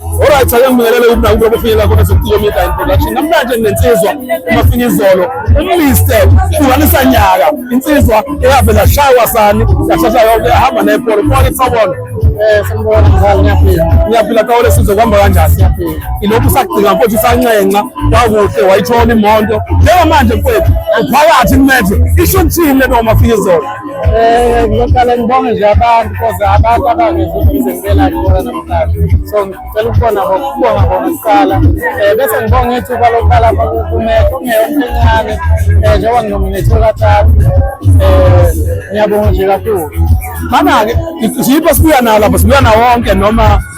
Alright, ake ngibingelele ukuthi nakuba bofinyelela khona sokuciko media and production. Namhlanje nginsizwa umafika izolo uMr. Hlukanisa nyaka. Insizwa eyavela shawa sani, yashasha yonke yahamba nepolo. Mfowethu kusabona. Eh, sanibona mzali ngiyaphila. Ngiyaphila kawole sizwe kuhamba kanjani? Ngiyaphila. Ilokhu usagcina mfowethu usanxenxa kwakuhle wayithola imonto. Njengamanje mfowethu uphakathi kumanje. Isho ukuthini lento umafika izolo? Eh ngizoqala ngibonge nje abantu because abantu abangezibize ngibela ngibona namhlanje. So ngicela ukubona ukubonga bona kuqala. Eh bese ngibonga ethu kwalokuqala kumekho ngeyonke encane. Eh njengoba nginominethe kathathu. Eh ngiyabonga nje kakhulu. Mana-ke siyipo sibuya nawo lapho sibuya nawo wonke noma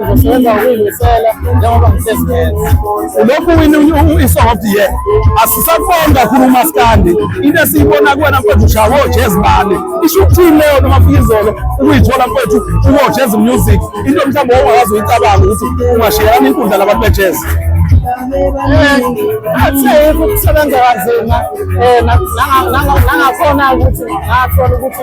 Uzosebenza ngokuyimisela njengoba ngisesigeza. Ulokhu wini isong of the year. Asisaboni kakhulu umaskandi. Into esiyibona kuwena mfethu ushaya wojezi bani. Isho ukuthini leyo noma fika izolo ukuyithola mfethu uwojezi music. Into mhlawumbe ongakazi uyicabanga ukuthi ungashiyelana inkundla labantu bejezi. Athi ukusebenza kanzima eh nangakhona ukuthi ngathola ukuthi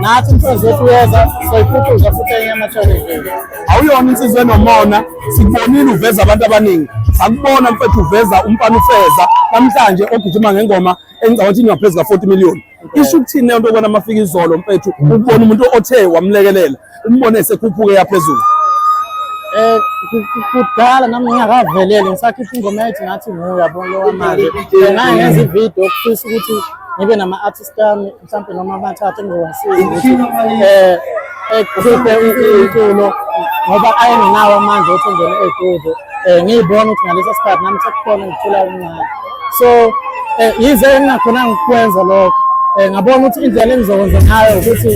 nathi umsebenzi wethu uyeza soyiphucuza futhi enye amathole awuyona insizwa enomona sikubonile uveza abantu abaningi sakubona mfethu uveza umfana ufeza namhlanje ogijima ngengoma engicabanga ukuthi ingaphezu ka-40 million isho ukuthini leyo nto okubona amafika izolo mfethu ukubona umuntu othe wamlekelela umbone esekhuphuke yaphezulu Eh kudala nami ngingakavelele ngisakhipha ingoma yathi ngathi nguye yabona lo manje. Nginaye ngenza ivideo okufisa ukuthi ngibe nama artist ami mhlawumbe noma amathathu engizowasiza ukuthi um ekhiphe umculo ngoba ayengenawo amandla ukuthi engene ey'kude um eh, ngiyibona ukuthi ngaleso sikhathi nami sekukhona ngithula umncane so um yize engingakhonanga ukukwenza lokho um ngabona ukuthi indlela engizokwenza ngayo ukuthi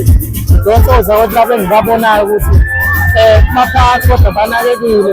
ngidonse ozakwethu labo engibabonayo ukuthi um baphathi kodwa banakekile